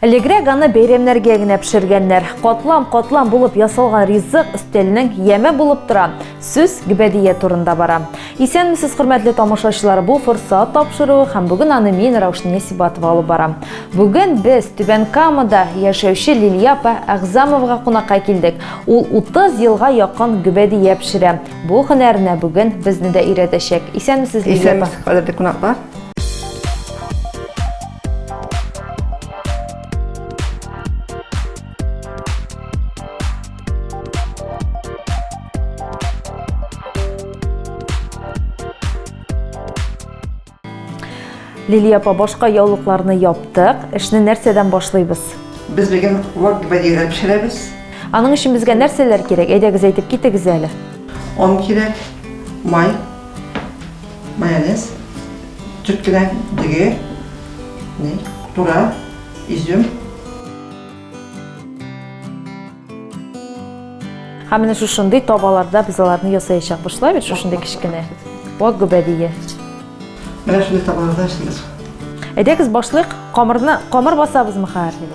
Элегрәк аны бәйрәмнәргә генә пешергәннәр. Катлам-катлам булып ясалган ризык өстәлнең яме булып тора. Сүз Гөбәдия турында бара. Исәнмесез, хөрмәтле тамашачылар, бу форсат тапшыруы һәм бүген аны мин, Раушния Сибатова алып барам. Бүген без Түбән Камада яшәүче Лилия апа Әгъзамовага кунакка килдек. Ул 30 елга якын гөбәдия пешерә. Бу һөнәренә бүген безне дә өйрәтәчәк. Исәнмесез, Лилия апа. Исәнмесез, кадерле кунаклар. Лилия апа, башка яулыкларны яптык. Эшне нәрсәдән башлыйбыз? Без бүген вак бадига пешерәбез. Аның өчен безгә нәрсәләр кирәк? Әйдәгез әйтеп китегез әле. Он кирәк, май, Майонез, төрткелән дөге, тура, изюм. Һәм менә шушындый табаларда без аларны ясаячак бушлай бит шушындый кечкенә. Вак гөбәдие. Менә шундый табаларда эшлибез. Әйдәгез башлык, камырны камыр басабызмы хәзер?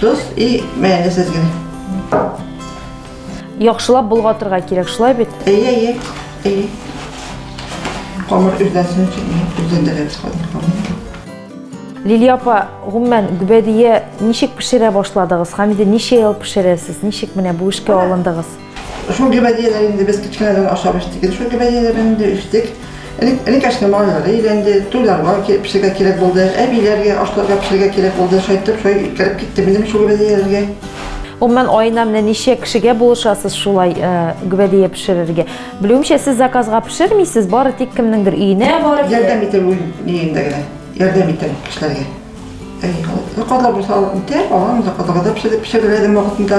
Тоз и мәне сезгә. Яхшылап болгатырга кирәк, шулай бит? Әйе, әйе. Әйе. Камыр үрдәсен өчен үрдәндерәбез хәзер. Лилия апа, гомумән, гөбәдия ничек пешерә башладыгыз? Хәмиде ничә ел пешерәсез? Ничек менә бу эшкә алындыгыз? Шул гөбәдияләр инде без кечкенәдән ашап эчтек. Инде шул гөбәдияләр инде эчтек. Энекәшне малайлары өйләнде, туйларга пешергә кирәк булды, әбиләргә ашларга пешергә кирәк булды. Шайтып, шай кереп китте минем шул гөбәдияләргә. Гомумән, аена менә ничә кешегә булышасыз шулай гөбәдия пешерергә? Белүемчә, сез заказга пешермисез, бары тик кемнеңдер өенә барып. Ярдәм итәм үз өемдә генә. Ярдәм итәм кешеләргә. Заказлар булса, итәм, алам, заказларга да пешереп пешерәләдем вакытында.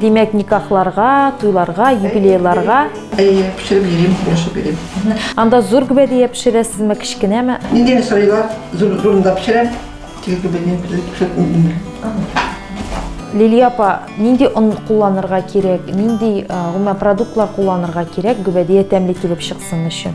Димәк, никахларга, туйларга, юбилейларга. Әйе, пешереп йөрим, яшәп йөрим. Анда зур гүбәдия пешерәсезме, кечкенәме? Нидән сорыйлар? Зур зурында пешерәм. Тик гүбәдия пешерәм. Лилия апа, нинди он кулланырга кирәк, нинди гомумән продуктлар кулланырга кирәк гүбәдия тәмле килеп чыксын өчен?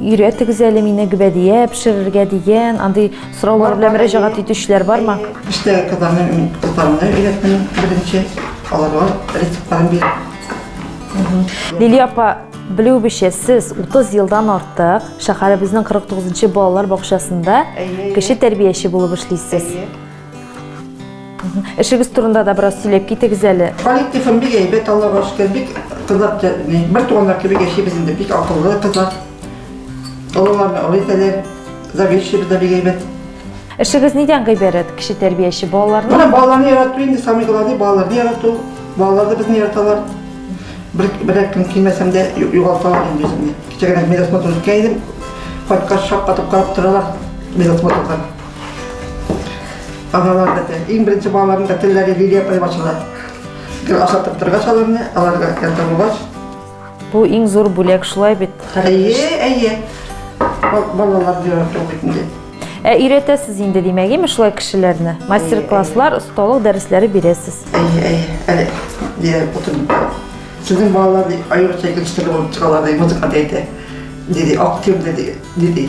Өйрәтегез әле мине гөбәдия пешерергә дигән андый сораулар белән мөрәҗәгать итүчеләр бармы? Иштә кызларны мин кызларымны өйрәттем беренче, аларга рецептларын бирдем. Лилия апа, белүебезчә, сез 30 елдан артык шәһәребезнең 49 нчы балалар бакчасында кеше тәрбияче булып эшлисез. Эшегез турында да бераз сөйләп китегез әле. Коллективым бик әйбәт, Аллага шөкер, бик кызлар бер туганнар кебек яшибез инде, бик акыллы кызлар. Олыларны олы итәләр, заведующийбыз да бик әйбәт. Эшегез нидән гыйбарәт, кеше тәрбияче балаларны? Менә балаларны ярату инде, самый главный балаларны ярату. Балалар да безне яраталар. Бер бер көн килмәсәм дә югалталар инде үземне. Кичә генә медосмотр үткән идем. Кайткач шаккатып карап торалар медосмотрдан. Аналар да тел. Иң беренче балаларның да телләре Лилия апай ачыла. Гел ашатып торгач аларны, аларга ярдәм булгач. Бу иң зур бүләк шулай бит. Әйе, әйе. Балалар дөрә бит инде. Ә өйрәтәсез инде димәк, име шулай кешеләрне? Мастер-класслар, осталык дәресләре бирәсез. Әйе, әйе. Әле дия утырып. Сезнең балалар аеруча икенче төрле булып чыгалар, ди, музыка диде. Диде, актив диде, диде.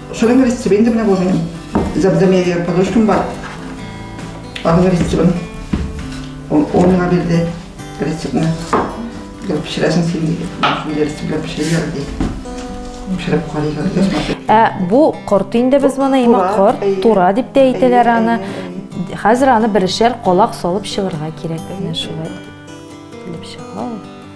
Шырын рецепт инде менә бу минем. Зәбдәмиягә подружкам бар. Аның рецебын. Ул миңа бирде рецептны. Гел пешерәсең син диде. Шундый рецептлар пешерәләр ди. Пешереп карыйлар. Ә бу корт инде без моны имә корт, тура дип тә әйтәләр аны. Хәзер аны берешәр колак салып чыгырга кирәк. Менә шулай. Килеп чыга ул.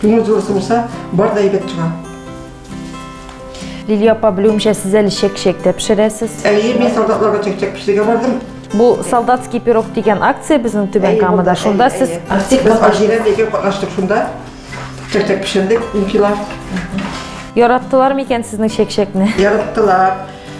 Күңел зур сулса, бар да әйбәт чыга. Лилия апа, белүемчә, сез әле чәк-чәк тә пешерәсез. Әйе, мин солдатларга чәк-чәк пешерергә бардым. Бу солдатский пирог дигән акция безнең Түбән Камада. Шунда сез Астик без Алжирә дигән катнаштык шунда. Чәк-чәк пешердек, инфилар. Яраттылар микән сезнең чәк-чәкне? Яраттылар.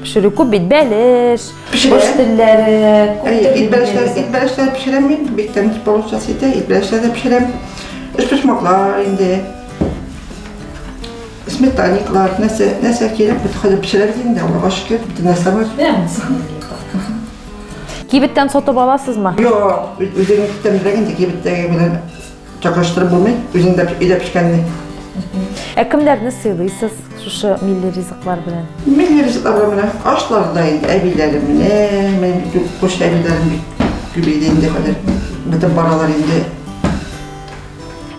Пешерү күп бит бәлеш, кош телләре, ит бәлешләр, ит бәлешләр пешерәм мин, бик тәмле получасы итә, ит бәлешләр дә пешерәм. Өчпочмаклар инде. Сметаниклар, нәрсә, нәрсә кирәк, бит хәзер пешерәбез инде, Аллага шөкер, бөтен нәрсә бар. Кибеттән сатып аласызмы? Юк, үзегез тәмләгән инде кибеттәге белән Чакырыштырып булмый, үзеңдә өйдә пешкәнне. Ә кемнәрне сыйлыйсыз шушы милли ризыклар белән? Милли ризыклар белән менә ашларда инде әбиләремне, мен күрше әбиләрем күбәйде инде хәзер. Бетеп баралар инде.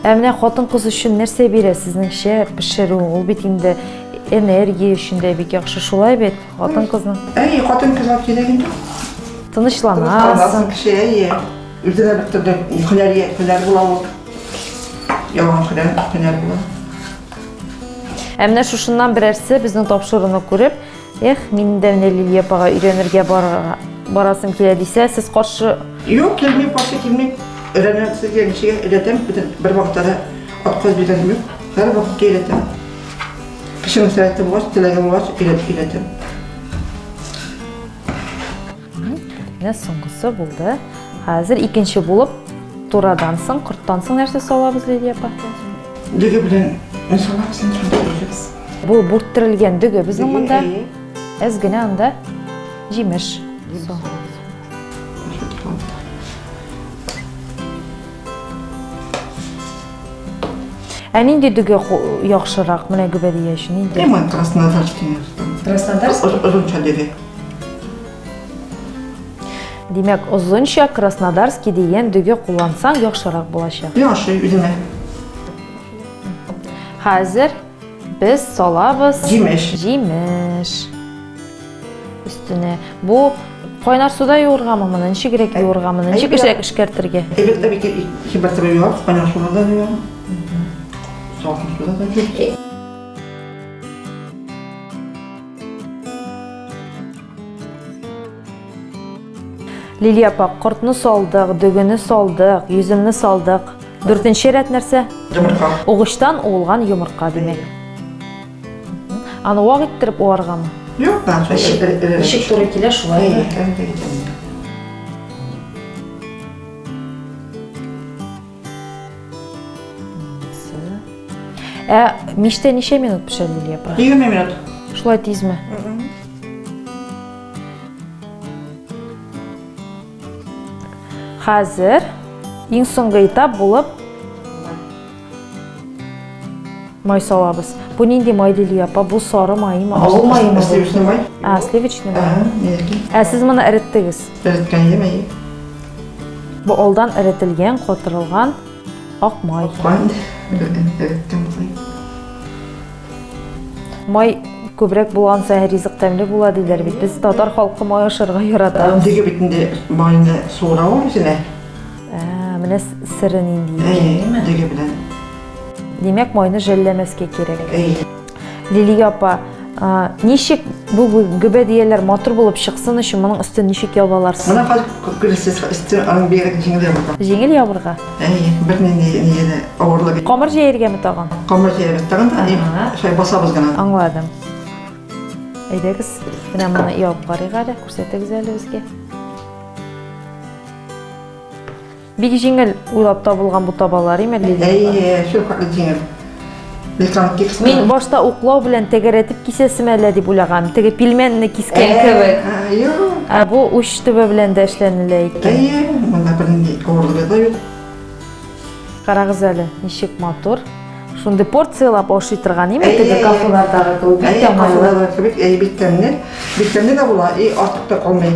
Ә менә хатын-кыз өчен нәрсә бирә сезнеңчә пешерү? Ул бит инде энергия өчен дә бик яхшы, шулай бит? Хатын-кызның. Әй, хатын-кызга кирәк инде. Тынычланасың. Тынычланасың кеше, әй. Иртәдә бит торды, хәләр, хәләр була ул. Яңа хәләр, хәләр була. Ә менә шушыннан берәрсе безнең тапшыруны күреп, эх, мин дә менә Лилия апага өйрәнергә барырга барасым килә дисә, сез каршы Юк, килми, каршы килми. Өйрәнәм сезгә, ничегә өйрәтәм, бөтен бер вакытта да отказ биргәнем юк. Һәр вакытта өйрәтәм. Кеше мәслихәте булгач, теләге булгач, өйрәтәм. Менә соңгысы булды. Хәзер икенче булып турадан соң, корттан соң нәрсә салабыз, Лилия апа? Дөге белән салабыз, иншаллах. Бу бүрттерелгән дөге безнең монда. Әз генә анда җимеш. Ә нинди дөге яхшырак менә гөбәдия өчен? Нинди? Краснодар. Краснодар. Русча дөге. Димәк, озынча Краснодарский дигән дөге куллансаң яхшырак булачак. Мин ашый үземә. Хәзер без салабыз җимеш. Җимеш. Өстенә. Бу кайнар суда юыргамы моны, ничек грек юырга моны, ничек эшләп эшкәртергә? Элек тә бик хибар суда юа, кайнар суда да юа. Салкын суда да юа. Лилия апа, кортны салдык, дөгене салдык, йөземне салдык. Дүртенче рәт нәрсә? Йомырка. Угычтан уылган йомырка димәк. Аны вак иттереп уарганмы? Юк, башка ишек туры килә шулай. Ә миштә ничә минут пешә, Лилия апа? 20 минут. Шулай тизме? Хәзер иң соңгы этап булып май салабыз. Бу нинди май, Лилия апа? Бу сары маймы? Авыл маймы? Сливочный май. А, сливочный май. Ә, сез моны эреттегез? Эреткән, әйе. Бу алдан эретелгән, котырылган ак май. Май күбрәк булган саен ризык тәмле була диләр бит. Без татар халкы май ашарга ярата. Диге бит инде майны суыра ул үзенә. Ә, менә сыры нинди. Әйе, диге белән. Димәк, майны жәлләмәскә кирәк. Әйе. Лилия апа, ничек бу гөбәдияләр матур булып чыксын өчен моның өстен ничек ябып аларсыз? Моны хәл күрсез өстен аның бигрәк җиңел ябырга. Җиңел ябырга? Әйе, бернинди нигә авырлык. Камыр җәергәме тагын? Камыр җәергә тагын, әни, шулай басабыз гына. Аңладым. Әйдәгез, менә моны ябып карыйк әле, күрсәтегез әле безгә. Бик җиңел уйлап табылган бу табалар, име, Лилия? Әйе, шулкадәр җиңел. Мин башта уклау белән тәгәрәтеп кисәсем әллә дип уйлаган. Теге пилмәнне кискән кебек. Юк. Ә бу уч төбе белән дә эшләнелә икән. Әйе, монда бернинди авырлыгы да юк. Карагыз әле, ничек матур. Шундый порциялап ашый торган име теге кафелардагы кебек. Әйе, кафелардагы кебек, әйе, бик тәмле. Бик тәмле дә була, и артык та калмый.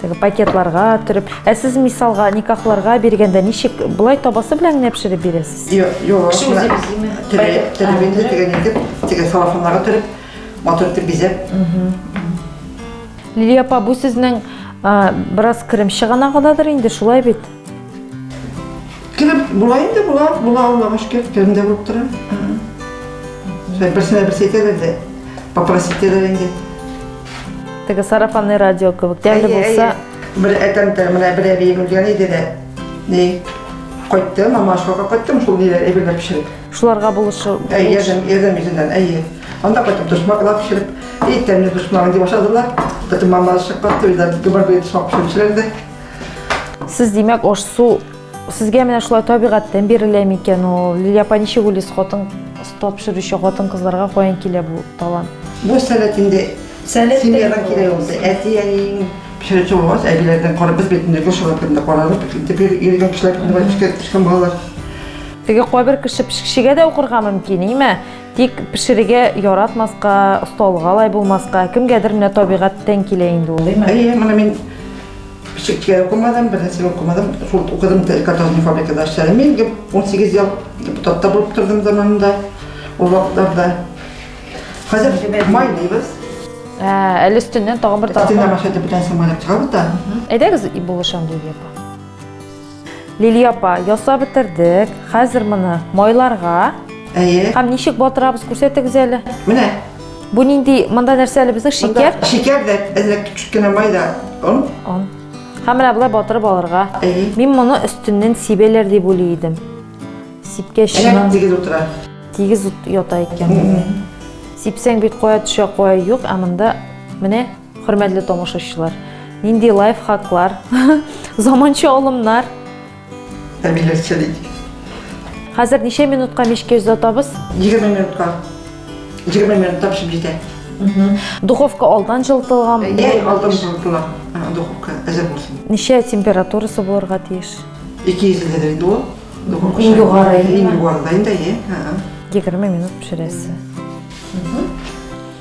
Теге пакетларга төреп. Ә сез мисалга никахларга биргәндә ничек болай табасы белән генә пешереп бирәсез? Юк, юк. Кеше үзе бизиме? Төреп, төреп инде теге итеп, теге салафаннарга төреп, матур итеп бизәп. Лилия апа, бу сезнең бераз керем чыганагыдадыр инде, шулай бит? Килеп була инде, була, була алмагач кеп, кемдә булып тора. Берсенә берсе әйтәләр дә, попросить итәләр инде. Теге сарафанный радио кебек, тәмле булса. Бер әтәмтә, менә бер әби үлгән иде дә. Ни, кайтты, мама ашкака кайттым, шул ниләр әбиләр пешереп. Шуларга булышы. Әй, ярдәм, ярдәм итүдән, әйе. Анда кайтып дошмаклар пешереп, ит тәмле дошмагын дип ашадылар. Потом мама ашыккан, туйда гөбәр бөйт шап пешереп Сез димәк, аш су сезгә менә шулай табигатьтән бирелә микән ул? Лилия ничек уйлыйсыз, хатын тапшыручы хатын кызларга каян килә бу талант? Бу сәләт инде семьядан килә ул. Әти әниең пешерүче булгач, әбиләрдән карап без бит инде шуңа күрә каралып, инде бир иргә кешеләр кешкән балалар. Теге кайбер кеше пешекчегә дә укырга мөмкин, име? Тик пешерергә яратмаска, осталыга лай булмаска, кемгәдер менә табигатьтән килә инде ул, димә. Әйе, моны мин пешеккә укымадым, бернәрсә укымадым. Шул укыдым, картофельный фабрикада эшләдем. Мин 18 ел депутатта булып тордым заманында, ул вакытларда. Хәзер майлыйбыз. Ә, әле өстеннән тагын бер тартма. Өстеннән машина белән самолет чыгабыз да. Әйдәгез булышам, Лилия апа. Лилия апа, ясап бетердек. Хәзер моны майларга. Әйе. Һәм ничек батырабыз, күрсәтегез әле. Менә. Бу нинди, монда нәрсә әле безнең шикәр? Шикәр дә, әзрәк кичек кенә май да, он. Он. Һәм менә болай батырып алырга. Әйе. Мин моны өстеннән сибәләр дип уйлый идем. Сипкәч, Әнә тигез утыра. Тигез ята икән. Сипсәң бит кая төшә, кая юк, ә монда менә Хөрмәтле тамашачылар, нинди лайфхаклар, заманча алымнар. Әмиләтчә дидек. Хәзер ничә минутка мичкә озатабыз? 20 минутка. 20 минутта пешеп җитә. Духовка алдан җылытылган. Йә, алдан җылытыла. Духовка әзер булсын. Ничә температурасы булырга тиеш? 200 дә инде ул. Духовка. Иң югары, иң югары да инде, 20 минут пешерәсе.